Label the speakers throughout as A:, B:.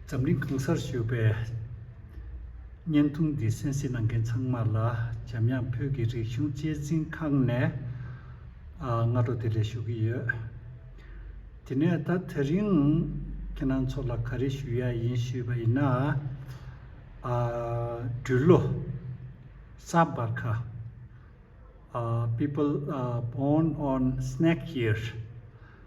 A: འཛམ་གླིང་གང་སར་བཞུགས་པའི་བརྙན་ཐུང་འདི་གསན་གཟིགས་གནང་མཁན་ཚང་མ་ལ་འཇམ་དབྱངས་བོད་ཀྱི་རིག་གཞུང་གཅེས་འཛིན་ཁང་ནས་སྔ་དྲོ་དེ་ལས་ཞུ་གི་ཡོད། དེ་ནས་ད་ཐེ་རིང་ཁྱེད་རང་ཚོ་ལ་ག་རེ་ཞུ་ཡ་ཡིན་ཞུས་པ་ཡིན་ན། སྦྲུལ་ལོ། ས་སྦར་ཁ། People born on snake year།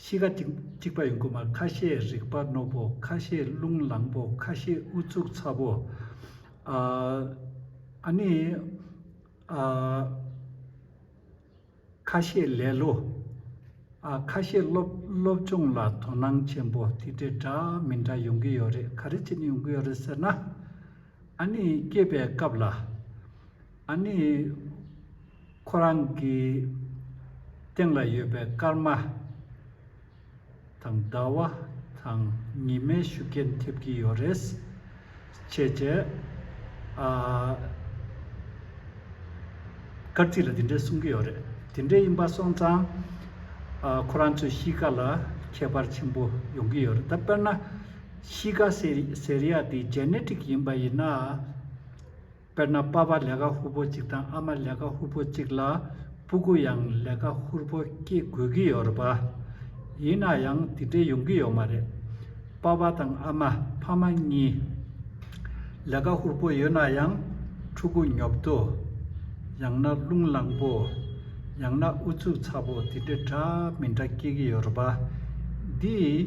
A: གཤིས་ཀ་ཅིག་གཅིག་པ་ཡོང་གི་མ་ཁ་ཤས་རིག་པ་རྣོ་པོ་ཁ་ཤས་རླུང་ལངས་པོ་ཁ་ཤས་ཨུ་ཚུགས་ཚ་པོ། ཨ་ནི། ཨ། ཁ་ཤས་ལེ་ལོ། ཨ་ཁ་ཤས་སློབ་སྦྱོང་ལ་དོ་སྣང་ཆེན་པོ་དེ་འདྲའི་འདྲ་མི་འདྲ་ཡོང་གི་ཡོད་རེད་ག་རེ་བྱེད་ནས་ཡོང་གི་ཡོད་རེད་ཟེར་ན། ཨ་ནི་སྐྱེས་པའི་སྐབས་ལ། ཨ་ནི། ཁོ་རང་གི་སྟེང་ལ་ཡོད་པའི་སྐར་མ་དང་ཟླ་བ་དང་ཉི་མའི་ཤུགས་རྐྱེན་ཐེབས་ཀྱི་ཡོད་རེད། ཅེས་བརྗོད། སྐར་རྩིས་ལ་དེ་འདྲའི་གསུང་གི་ཡོད་རེད། དེ་འདྲའི་ཡིན་པ་སོང་ཙང། ཁོ་རང་ཚོའི་གཤིས་ཀ་ལ་ཁྱད་པར་ཆེན་པོ་ཡོང་གི་ཡོད་རེད། ད་དཔེར་ན། གཤིས་ཀ་ཟེར་ཡ་དེ Genetic ཡིན་པ་ཡིན་ན། དཔེར་ན་པ་པ་ལས་ཀ་ཧུར་པོ་གཅིག་དང་ཨ་མ་ལས་ཀ་ཧུར་པོ་གཅིག་ལ་སྤུ་གུ་ཡང་ལས་ཀ་ཧུར་པོ་སྐྱེ་དགོས་ཀྱི་ཡོད་རེད་པ། ཡིན་ན་ཡང་དེ་འདྲའི་ཡོང་གི་ཡོད་མ་རེད། པ་པ་དང་ཨ་མ་ཕ་མ་གཉིས་ལས་ཀ་ཧུར་པོ་ཡོད་ན་ཡང་ཕྲུ་གུ་ཉོབ་ཏོ། ཡང་ན་རླུང་ལངས་པོ། ཡང་ན་ཨུ་ཚུགས་ཚ་པོ་དེ་འདྲ་འདྲ་མི་འདྲ་སྐྱེ་གི་ཡོད་རེད་པ། འདིས།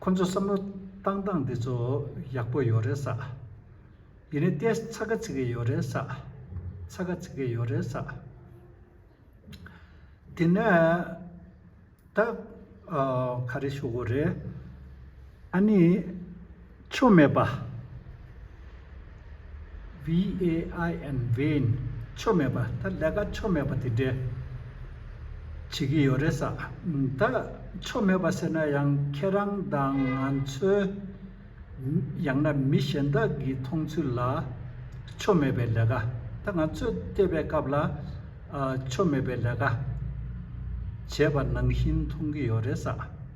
A: ཁོ་ཚོ་བསམ་བློ་བཏང་སྟངས་འདི་ཚོ་ཡག་པོ་ཡོད་རེད་ས། ཡིན་ནའི་ཏེ་ཚ་ག་ཚིག་གི་ཡོད་རེད་ས། ཚ་ག་ཚིག་གི་ཡོད་རེད་ས། དེ་ནས་ད། ག་རེ་ཞུ་དགོས་རེད། ཨ་ནི། ཆོ་མེད་པ། VAIN བེན། ཆོ་མེད་པ། ད་ལས་ཀ་ཆོ་མེད་པ་དེ་འདྲས་བྱེད་ཀྱི་ཡོད་རེད་ས། ད་ཆོ་མེད་པ་ཟེར་ན་ཡང་ཁྱེད་རང་དང་ང་ཚོའི་ཡང་ན་མི་གཞན་དག་གི་མཐོང་ཚུལ་ལ་ཆོ་མེད་པའི་ལས་ཀ། ད་ང་ཚོས་བལྟས་པའི་སྐབས་ལ་ཆོ་མེད་པའི་ལས་ཀ་བྱས་པ་ནང་བཞིན་མཐོང་གི་ཡོད་རེད་ས།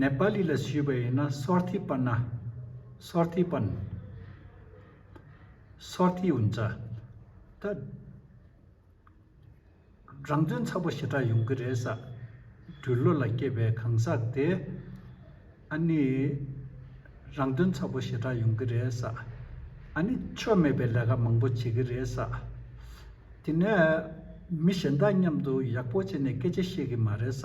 A: ནེ་པཱ་ལི་ལ་ཞུས་པ་ཡིན་ན་སོར་ཐིག་སྤར་ན། སོར་ཐིག་སྤར། སོར་ཐིག་འུ་འདྲ། ད། རང་དོན་ཚ་པོ་ཞེ་དྲག་ཡོང་གི་རེད་ས། འགྲུལ་བློ་ལ་སྐྱེས་པའི་གང་ཟག་དེ། ཨ་ནི། རང་དོན་ཚ་པོ་ཞེ་དྲག་ཡོང་གི་རེད་ས། ཨ་ནི། ཆོ་མེད་པའི་ལས་ཀ་མང་པོ་བྱེད་གི་རེད་ས། དེ་ནས། མི་གཞན་དག་མཉམ་དུ་ཡག་པོ་བྱས་ནས་སྐད་ཆ་བཤད་གི་མ་རེད་ས།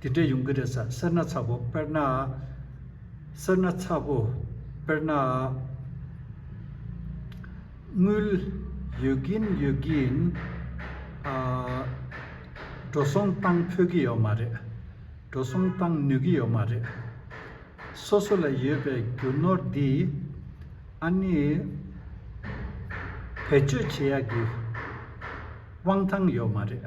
A: དེ་འདྲས་ཡོང་གི་རེད་ས་སེར་སྣ་ཚ་བོ་དཔེར་ནའ། སེར་སྣ་ཚ་བོ་དཔེར་ནའ། དངུལ། ཡོད་གིན་ཡོད་གིན། ཨ། འགྲོ་སོང་བཏང་ཕོད་ཀྱི་ཡོད་མ་རེད། འགྲོ་སོང་བཏང་ནུས་ཀྱི་ཡོད་མ་རེད། སོ་སོ་ལ་ཡོད་པའི་རྒྱུ་ནོར་འདི། ཨ་ནི། བེད་སྤྱོད་བྱེད་ཡག་གི། དབང་ཐང་ཡོད་མ་རེད།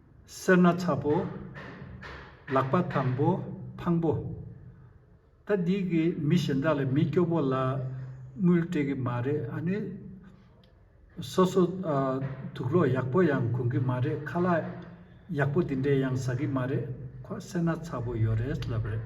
A: སེར་སྣ་ཚ་པོ། ལག་པ་དམ་པོ་འཕང་པོ། ད་འདི་གི་མི་གཞན་དག་ལས་མི་སྐྱོ་པོ་ལ་དངུལ་སྤྲད་གི་མ་རེད་ཨ་ནི། སོ་སོ་དུག་ལོག་ཡག་པོ་ཡང་གོན་གི་མ་རེད་ཁ་ལག་ཡག་པོ་འདི་འདྲས་ཡང་ཟ་གི་མ་རེད་ཁོ་སེར་སྣ་ཚ་པོ་ཡོད་རེད་ལབ་རེད།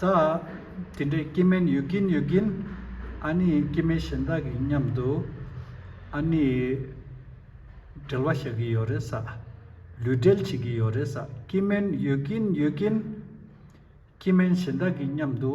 A: ད། དེ་འདྲའི་སྐྱེ་དམན་ཡོད་ཀྱིན་ཡོད་ཀྱིན། ཨ་ནི་སྐྱེ་དམན་གཞན་དག་གི་མཉམ་དུ། ཨ་ནི། འབྲེལ་བ་བཞག་གི་ཡོད་རེད་ས། ལུས་འབྲེལ་བྱེད་ཀྱི་ཡོད་རེད་ས། སྐྱེ་དམན་ཡོད་ཀྱིན་ཡོད་ཀྱིན། སྐྱེ་དམན་གཞན་དག་གི་མཉམ་དུ།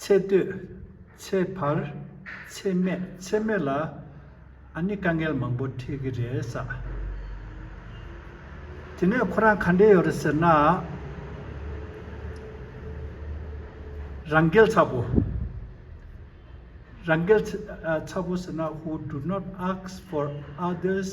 A: ཚེ་སྟོད། ཚེ་འཕར། ཚེ་སྨད་ཚེ་སྨོད་ལ་ཨ་ནི་དཀའ་ངལ་མང་པོ་འཕྲད་གི་རེད་ས། དེ་ནས་ཁོ་རང་ག་འདྲས་ཡོད་རེད་ཟེར་ན། རང་འགེལ་ཚ་པོ། རང་འགེལ་ཚ་པོ་ཟེར་ན་ཧུ་ཏུ་ནོར་ཨགས་ཕོར་ཨ་དེས།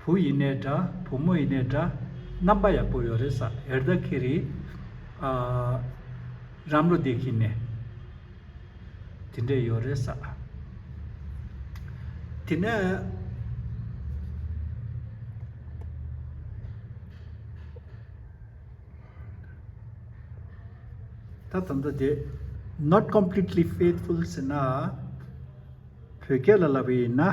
A: བུ་ཡིན་ནའི་འདྲ་བུ་མོ་ཡིན་ནའི་འདྲ། རྣམ་པ་ཡག་པོ་ཡོད་རེད་ས་ཨེར་ད་ཁེ་རི། ཨ། རམ་བློ་བདེ་ཁེ་ནས། དེ་འདྲས་ཡོད་རེད་ས། དེ་ནས། ད་ད་ད་དེ། not completely faithful། ཟེར་ན། བོད་སྐད་ལ་ལབ་པ་ཡིན་ན།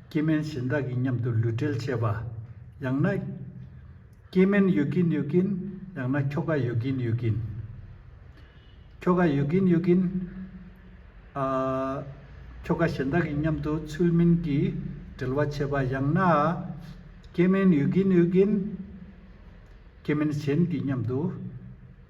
A: སྐྱེ་དམན་གཞན་དག་གི་མཉམ་དུ་ལུས་འབྲེལ་བྱེད་པ། ཡང་ན། སྐྱེ་དམན་ཡོད་ཀྱིན་ཡོད་ཀྱིན། ཡང་ན་ཁྱོ་ག་ཡོད་ཀྱིན་ཡོད་ཀྱིན། ཁྱོ་ག་ཡོད་ཀྱིན་ཡོད་ཀྱིན། ཨ། ཁྱོ་ག་གཞན་དག་གི་མཉམ་དུ་ཚུལ་མིན་གྱི་འབྲེལ་བ་བྱེད་པ། ཡང་ན། སྐྱེ་དམན་ཡོད་ཀྱིན་ཡོད་ཀྱིན། སྐྱེ་དམན་གཞན་གྱི་མཉམ་དུ།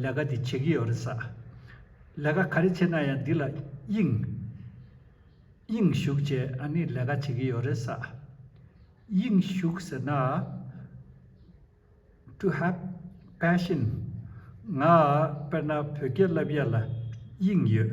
A: ལས་ཀ་འདི་བྱེད་ཀྱི་ཡོད་རེད་ས། ལས་ཀ་ག་རེ་བྱེད་ན་ཡང་འདི་ལ་དབྱིངས། དབྱིངས་བཞུགས་ཅེས་ཨ་ནི་ལས་ཀ་བྱེད་ཀྱི་ཡོད་རེད་ས། དབྱིངས་བཞུགས་ཟེར་ན། to have passion ང་དཔེར་ན་བོད་སྐད་བསླབ་ཡས་ལ་དབྱིངས་ཡོད།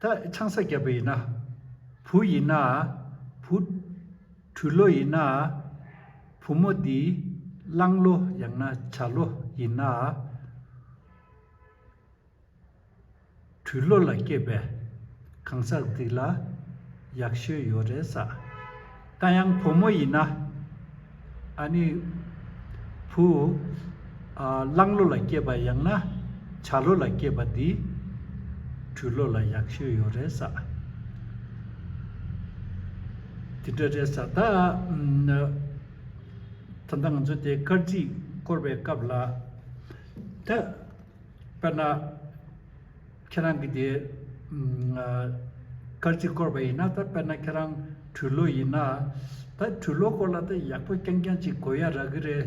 A: ད་ཆང་ས་རྒྱབ་པ་ཡིན་ན། བུ་ཡིན་ན། བུ། བྲུལ་ལོ་ཡིན་ན། བུ་མོ་འདི། གླང་ལོ་ཡང་ན་བྱ་ལོ་ཡིན་ན། བྲུལ་ལོ་ལ་སྐྱེས་པའི། གང་ཟག་འདི་ལ། ཡག་ཤོས་ཡོད་རེད་ས། ད་ཡང་བུ་མོ་ཡིན་ན། ཨ་ནི། བུ། གླང་ལོ་ལ་སྐྱེས་པ་ཡང་ན་བྱ་ལོ་ལ་སྐྱེས་པ་འདི། བྲུལ་ལོ་ལ་ཡག་ཤོས་ཡོད་རེད་ས། དེ་འདྲ་རེད་ས། ད། ད་ལྟ་ང་ཚོ་དེ་སྐར་རྩིས་བསྐོར་བའི་སྐབས་ལ། ད། དཔེར་ན། ཁྱེད་རང་གིས་དེ་སྐར་གཅིག་བསྐོར་བ་ཡིན་ན་ད་དཔེར་ན་ཁྱེད་རང་གྲུ་ལོ་ཡིན་ན། ད་གྲུ་ལོ་སྐོར་ལ་ད་ཡག་པོ་རྐྱང་རྐྱང་ཅིག་གོ་ཡ་རག་གི་རེད་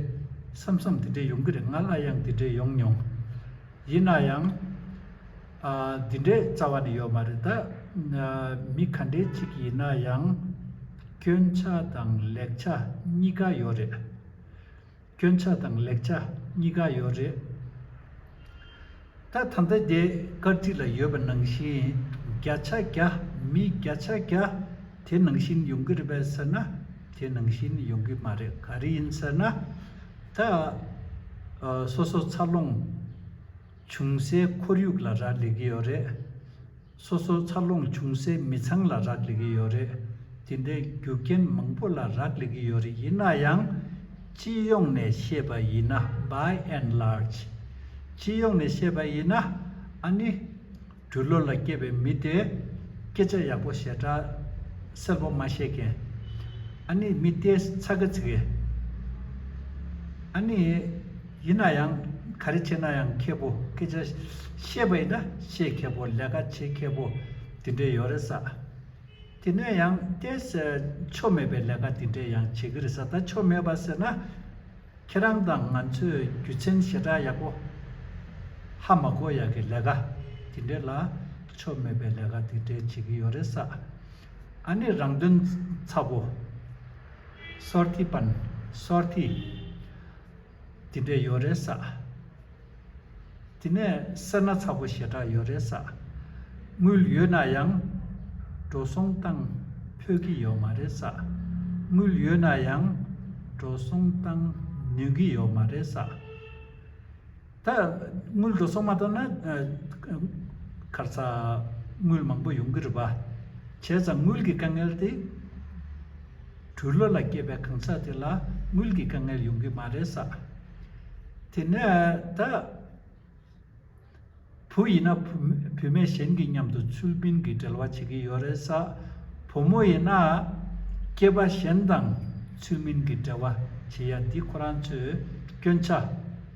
A: བསམ་བསམ་དེ་འདྲས་ཡོང་གི་རེད་ང་ལ་ཡང་དེ་འདྲས་ཡོང་མྱོང། ཡིན་ན་ཡང། དེ་འདྲས་རྩ་བ་ནས་ཡོད་མ་རེད་ད། མི་ག་འདྲས་ཅིག་ཡིན་ན་ཡང། སྐྱོན་ཆ་དང་ལེགས་ཆ་གཉིས་ཀ་ཡོད་རེད། སྐྱོན་ཆ་དང་ལེགས་ཆ་གཉིས་ཀ་ཡོད་རེད་ད། ད་ལྟ་རྒྱའི་སྐར་རྩིས་ལ་ཡོད་པ་ནང་བཞིན་བརྒྱ་ཆ་བརྒྱ་མི་བརྒྱ་ཆ་བརྒྱ་དེ་ནང་བཞིན་ཡོང་གི་རེད་པས་ཟེར་ན་དེ་ནང་བཞིན་ཡོང་གི་མ་རེད་ག་རེ་ཡིན་ཟེར་ན། ད་སོ་སོ་འཚར་ལོངས་བྱུང་སའི་ཁོར་ཡུག་ལ་རག་ལས་ཀྱི་ཡོད་རེད། སོ་སོར་འཚར་ལོངས་བྱུང་སའི་མི་ཚང་ལ་རག་ལས་ཀྱི་ཡོད་རེད། དེ་འདྲའི་རྒྱུ་རྐྱེན་མང་པོ་ལ་རག་ལས་ཀྱི་ཡོད་རེད་ཡིན་ན་ཡང། སྤྱི་ཡོངས་ནས་བཤད་པ་ཡིན་ན By and Large། སྤྱི་ཡོངས་ནས་བཤད་པ་ཡིན་ན། ཨཱ་ནི། འབྲུ་ལོ་ལ་སྐྱེས་པའི་མི་དེས། སྐད་ཆ་ཡག་པོ་ཞེ་དྲག་གསལ་པོ་མ་བཤད་མཁན། ཨཱ་ནི། མི་དེས་ཚ་གི་ཚིག་གི། ཨཱ་ནི། ཡིན་ན་ཡང་ག་རེ་བྱས་ན་ཡང་མཁས་པོ་སྐད་ཆ་བཤད་པ་ཡིན་ན་བཤད་མཁས་པོ་ལས་ཀ་བྱེད་མཁས་པོ་དེ་འདྲས་ཡོད་རེད་ས། དེ་ནས་ཡང་བལྟས་ཟེར་ཆོ་མེད་པའི་ལས་ཀ་དེ་འདྲས་ཡང་བྱེད་ཀི་རེད་ས་ད་ཆོ་མེད་པ་ཟེར་ན་ཁྱེད་རང་དང་ང་ཚོས་རྒྱུ་ཆེན་ཞེ་དྲག་ཡག་པོ་ཧ་མ་གོ་ཡག་གི་ལས་ཀ་དེ་འདྲས་ལ་ཆོ་མེད་པའི་ལས་ཀ་དེ་འདྲས་བྱེད་ཀི་ཡོད་རེད་ས། ཨ་ནི་རང་དོན་ཚ་པོ། སོར་ཐི་པན། སོར་ཐི། དེ་འདྲས་ཡོད་རེད་ས། དེ་ནས་སེར་སྣ་ཚ་པོ་ཞེ་དྲག་ཡོད་རེད་ས། དངུལ་ཡོད་ན་ཡང། འགྲོ་སོང་བཏང་ཕོད་ཀྱི་ཡོད་མ་རེད་ས། དངུལ་ཡོད་ན་ཡང། འགྲོ་སོང་བཏང་ནུས་ཀྱི་ཡོད་མ་རེད་ས། ད་དངུལ་འགྲོ་སོང་མ་གཏོགས་ན། ཁར་ཚ། དངུལ་མང་པོ་ཡོང་གི་རེད་པ། བྱས་ཙང་དངུལ་གྱི་དཀའ་ངལ་དེ། དྲུག་ལོ་ལ་སྐྱེས་པའི་གང་ཟག་དེ་ལ་དངུལ་གྱི་དཀའ་ངལ་ཡོང་གི་མ་རེད་ས། དེ་ནས་ད། བུ་ཡིན་ན་བུ་བུད་མེད་གཞན་གྱི་མཉམ་དུ་ཚུལ་མིན་གྱི་འབྲེལ་བ་བྱེད་ཀྱི་ཡོད་རེད་ས། བུ་མོ་ཡིན་ན། སྐྱེས་པ་གཞན་དང་ཚུལ་མིན་གྱི་འབྲེལ་བ་བྱེད་ཡ་འདི་ཁོ་རང་ཚོས་སྐྱོན་ཆ།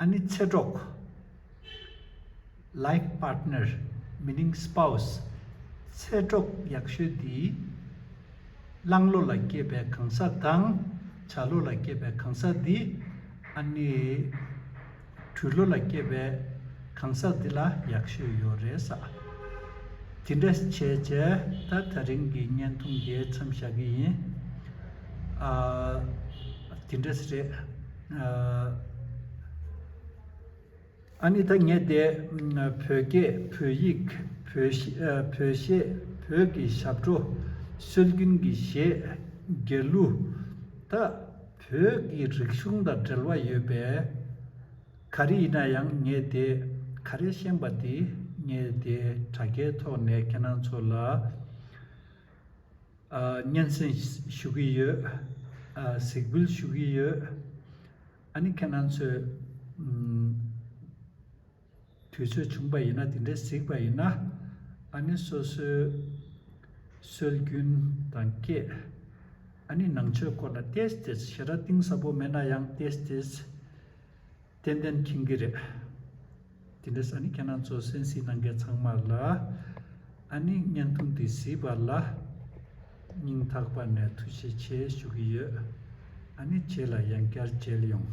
A: ཨ་ནི་ཚེ་གྲོགས། Life Partner Meaning Spouse། ཚེ་གྲོགས་ཡག་ཤོས་འདི། གླང་ལོ་ལ་སྐྱེས་པའི་གང་ཟག་དང། བྱ་ལོ་ལ་སྐྱེས་པའི་གང་ཟག་འདི། ཨ་ནི། གྲུ་ལོ་ལ་སྐྱེས་པའི་གང་ཟག་འདི་ལ་ཡག་ཤོས་ཡོད་རེད་ས། དེ་འདྲ་བྱས་བྱས་ད་ད་རིང་གི་བརྙན་ཐུང་འདིའི་མཚམས་བཞག་གི་ཡིན། དེ་འདྲ་ཞིག་རེད། ཨ་ནེ་ད་ངས་དེ་བོད་སྐད་བོད་ཡིག་བོད་གཞས་བོད་ཀྱི་ཞབས་བྲོ་སྲོལ་རྒྱུན་གྱི་གཞས་རྒྱལ་གླུ་དག་བོད་ཀྱི་རིག་གཞུང་དང་འབྲེལ་བ་ཡོད་པས། ག་རེ་ཡིན་ན་ཡང་ངས་དེ་ག་རེ་ཤེས་པ་དེ་ངས་དེ་དྲ་རྒྱའི་ཐོག་ནས་ཁྱེད་རང་ཚོ་ལ་སྙན་སེང་ཞུ་གི་ཡོད། གཟིགས་འབུལ་ཞུ་གི་ཡོད། ཨ་ནི་ཁྱེད་རང་ཚོས། དུས་ཚོད་བྱུང་པ་ཡིན་ན་དེ་འདྲའི་གཟིགས་པ་ཡིན་ན། ཨ་ནི་སོ་སོའི་སྲོལ་རྒྱུན་དང་སྐད། ཨ་ནི་ནང་ཆོས་སྐོར་ལ་ཏེས་ཏེས་ཞེ་དྲག་གཏིང་ཟབ་པོ་མེད་ན་ཡང་ཏེས་ཏེས། ཏན་ཏན་མཁྱེན་གྱི་རེད། དེ་འདྲ་ས་ནི་ཁྱེད་རང་ཚོ་གསན་གཟིགས་གནང་མཁན་ཚང་མ་ལ་ཨ་ནི་བརྙན་ཐུང་དེ་གཟིགས་པ་ལ་སྙིང་ཐག་པ་ནས་ཐུགས་རྗེ་ཆེ་ཞུ་གི་ཡོད། ཨ་ནི་བྱས་ལ་ཡང་བསྐྱར་མཇལ་ཡོང།